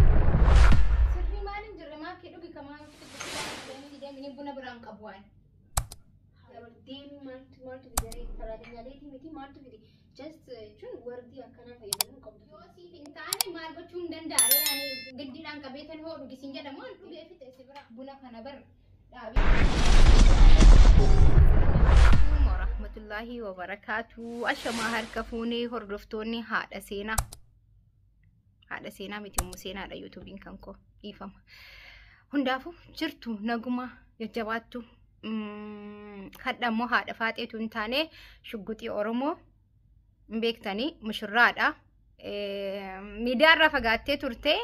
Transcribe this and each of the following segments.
Sirrii maaliin jirre maakii dhugi kamaa nuti deemini buna biraan qabu waan. Deemii maaltu maaltu bidaree faraadinyaaleetii miti maaltu fide just jechuun wardii akkanaa fayyadamuu qabdu. Yoo siif hin taane maal gochuu hin danda'aree ani giddiidhaan qabeetan hoo dhugisiin jedhamu an dhugee fixe si bira buna kana bar warahmatullahi wabarakaatuu ashamaa harka fuunee hordoftoonni haadha seenaa haadha seenaa miti immoo seenaadha yuutuubiin kan koo dhiifama hundaafuu jirtu naguma jajjabaattu hadha immoo haadha faaxeetu hin taane shugguxii oromoo hin beektanii mushurraadha miidiyaa irraa fagaattee turte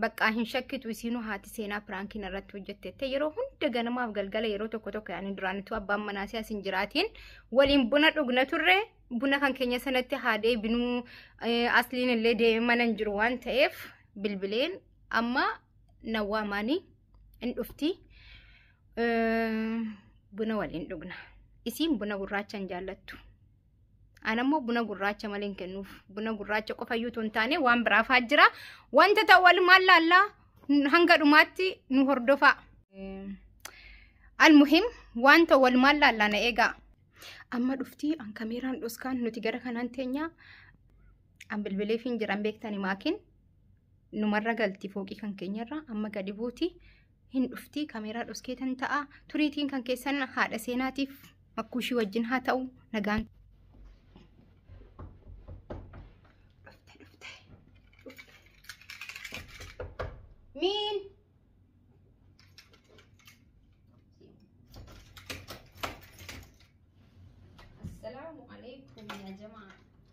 baqqaa hin shakkitu isiinuu haati seenaa piraankiin irratti hojjettette yeroo hunda ganamaaf galgala yeroo tokko tokko yaani duraanitu abbaan manaa si'a sin jiraatiin waliin buna dhugna turre buna kan keenya sanatti haa deebinuu eh, asliin illee deemee mana hin jiru waan ta'eef bilbileen amma na waamaanii hin dhufti Buna waliin dhugna. Isiin buna gurraacha hin jaallattu. An ammoo buna gurraacha malee hin kennuuf. Buna gurraacha qofa iyyuu hin taane waan biraaf haa jira. Wanta ta'u walumaan laallaa hanga dhumaatti nu hordofaa. Almuhim wanta walumaan laallaa na eegaa. Amma dhuftii an kameeraan dhoskaan nuti gara kanaan teenyaa. An bilbileef hin jiran beektani maakiin numarra galti fooqii kan keenyarra amma gadi buuti hin dhufti kameeraa dhoskeetan ta'a turiitiin kan keessan haadha seenaatiif makkuushii wajjin haa ta'u nagaan miin assalaamu alaikum ya jamaa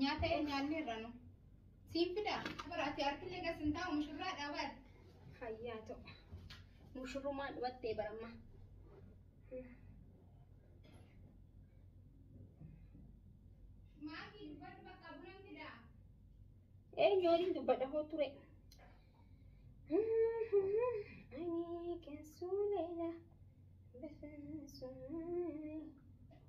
Nyaata nyaanne irra nu. Siin fidaa? Bara ati harkillee gas hin taa'u mushurraa dhaabaa. Hayyaa ta'u. Mushurrumaan dhumattee baramma. Maakii dubbadhu bakka bulan fidaa? Eenyu waliin dubbadha hoo ture? Ani keessuu leela. Bifaan sun.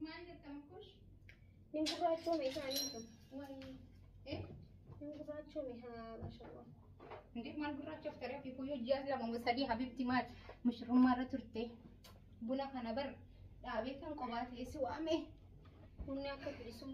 Maal jettan kun? Hin gurraachoome isaanii kun. Waayii. Eh? Hin gurraachoome haa mashallah. Hindi maal gurraachaaf taree fi kuyyuu ji'a lama moo sadii habibti maal mushurrummaa irra turte. Buna kana bar dhaabee kan qobaa ta'e si waame. Bunni akka bilisummaa.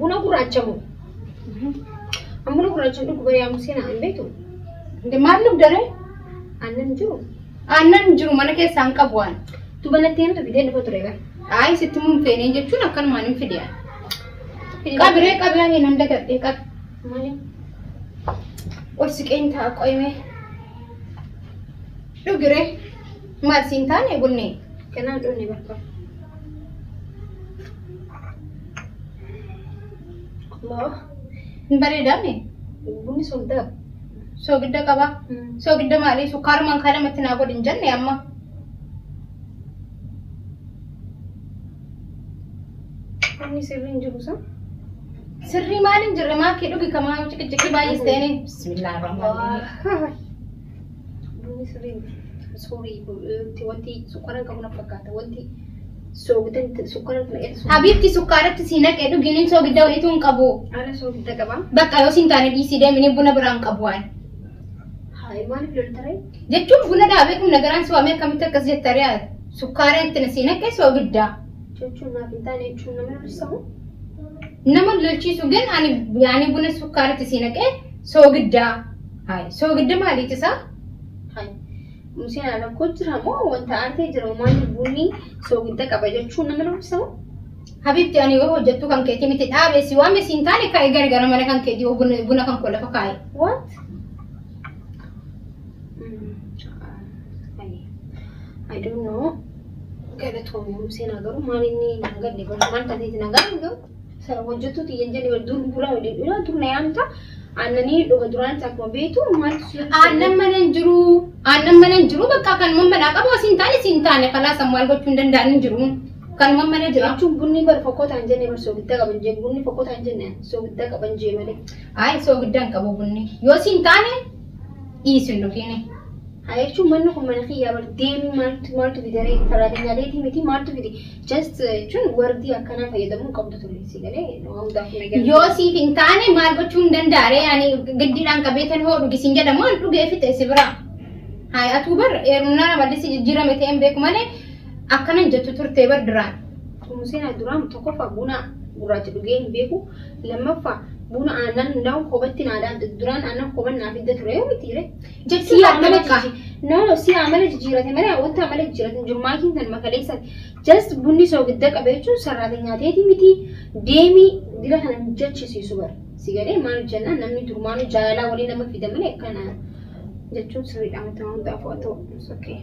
Buna gurraacha moo? An buna gurraacha hin dhugu bari'aa musee na beektu. Maal dhugda ree? Aannan hin jiru. Aannan hin jiru mana keessaa hin qabu waan. Tu banattee himtu fidee dhufa ture bara. Ayi sitti mun feenee jechuun akkanumaan hin fidee. Qabiree qabiree hin handa gadhee qab. Malee. Ol siqeen ta'a qoyimee. Dhugiree. Maal siin taane gunnee. Kanaan dhunne bakka. Allah. Hin bareedaame. Bunni soogidda qaba. Soogidda qaba. Soogidda maalii sukkaarumaan kaa namatti naa godhin jenne amma. Bunni sirrii hin jiru san. Sirrii maaliin jirre maakii dhugi kamaa ciqiciqii baay'ees ta'een. Bismillaa rahmaan rahim. Bunni sirrii miti. Sorry, wanti sukkaara hin qabu na fakkaata. Wanti soogidda miti, sukkaara miti naqeeti soogidda. Habiibti sukkaaratti si naqee dhuginiin soogidda wayituu hin qabu. Ara soogidda qaba. Bakka yoo siin taane dhiisii deemini buna biraan qabu waan. Haay maaliif loltaree? Jechuun buna dhaabee kun nagaraan si waamee akkamitti akkas jetta riyaad. Sukkaara itti na si naqee soogidda. Jechuun naaf hin taane jechuun nama lollisamu. Nama lolchiisu gan ani yaani buna sukkaara itti si naqee soogidda. Hayi soogidda maaliiti isaa? Hayi museen alakkoo jira moo wanta aartee jira umaanni bunni soogidda qaba jechuun nama dubbisa moo? Habibti ani yoo hojjettuu kan keetii miti dhaabee si waame siin taane kaa'ee gargara mana kan keetii yoo buna buna kan koo lafa kaa'e. What? Mm, ah, hayi. I don't know. Galatoomi museen haa garuu maal inni naa galle bara maal tateeti nagaa hin gahu? Sana hojjettuu tiyya hin jenne dur bulaa waliin dhuna dur na yaamta aannanii dhuga duraanis akkuma beektu maaltu si aannan mana hin jiru aannan mana hin jiru bakka kan man manaa qabu asiin taane siin taane kalaa san maal gochuu hin danda'an hin jiru kan man mana jira. jechuun bunni bar fokkotaa hin jenne bar soogiddaa qaban jee bunni fokkotaa hin jenne soogiddaa qaban jee malee. Ayi soogiddaa hin qabu bunni yoo siin taane dhiisu hin dhufiini. Haa jechuun manni kun mana kiyyaa bar deemii maaltu maaltu fidaree saraatinyaa deetii miti maaltu fide Just jechuun wordii akkanaa fayyadamuu hin qabdu ture si galee nama hundaaf hin eegalu. Yoo siif hin taane maal gochuu hin danda'a ree ani giddiidhaan qabeetan hoo dhugisiin jedhamu an dhugee fixe si biraa. Haay atuu bar eerumnaan amallissi jijjiirame ta'e hin beeku malee akkana hin jettu turtee bar duraan. Museen duraan tokkoffaa buna gurraacha dhugee hin beeku. Lammaffaa buna aannan na'u koobatti naadaan duraan aannan kooban naaf hidda ture yoo miti ree. jechuun Si'a amala bakka- jijjiir- no no si'a amala jijjiirate malee wanta amala jijjiirate hin jiru maakiin kan makaleessan just bunni soogidda qabe jechuun sarraateenyaa teeti miti deemii dira kana hin jechisiisu bara si galee maal jennaan namni durmaanuu jaalalaa waliin nama fida malee akkana jechuun sirriidha wanta wanta afoo ta'u it's okay.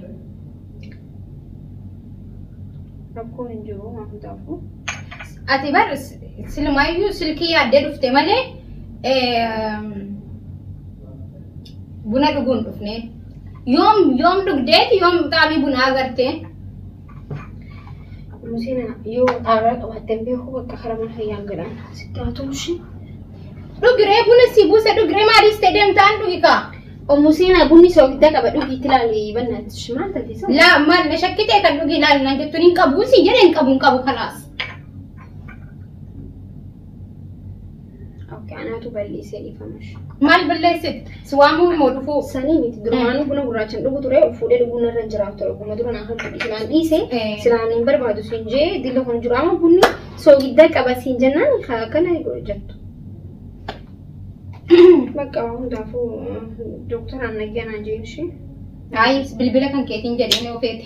rakkoon hin jiru waan hundaafuu. Ati bar silmaayyuu silkii yaaddee dhufte malee eh, Buna dhuguun dhufnee. Yoom yoom dhugdeeti yoom xaafii bunaa agartee. Musina yoo xaaraa qabaattee beeku bakka karaa mana fayyaa jedhan sitti haa tumshi. Dhugiree buna si buuse dhugiree maaliif ta'e deemtaan dhugi kaa. Musina bunni soogidda qaba dhugii itti ilaali bannaatti shimaan tafiisa. Laa maal na shakkitee kan dhugi ilaali naan jettuun hin qabu si jedhee hin qabu hin qabu kanaas. Okay, anaatu balleessee dhiifama. Maal balleessit? Si waamuu moo dhufuu? Sanii miti durumaanuu buna gurraachan dhugu ture of fuudhee dhuguun irra hin jiraatu ture ogguma dura naa hamtu silaan dhiise Eh. silaan hin barbaadu siin jee dillo kan jiru amma bunni soogiddaa qaba siin jennaan ka akkana jettu. Bakka waan hundaafuu dooktaraan nagganaa jeen ishee. Ayi bilbila kan keetiin jedhee ni ofeete.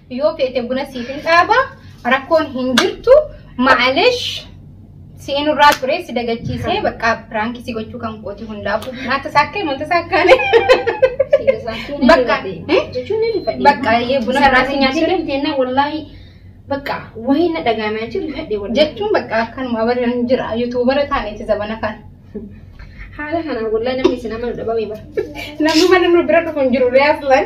Yoo feete buna siif hin dhaaba rakkoon hin jirtu maalesh si'in irraa ture si dagachiisee bakka piraankii si gochuu kan kooti hundaafuu naata saakkee manta saakkaane bakka bakka yee buna irraa si nyaachuu bakka wayii na dhagaamee jiru fedhe wal jechuun bakka akkanuma barri jira yuutuubara taa'eeti zabana kana. haala kanaan wallahi namni isin amanu dhabamee bara. Namni mana nu bira dhufu hin jiru reeflan.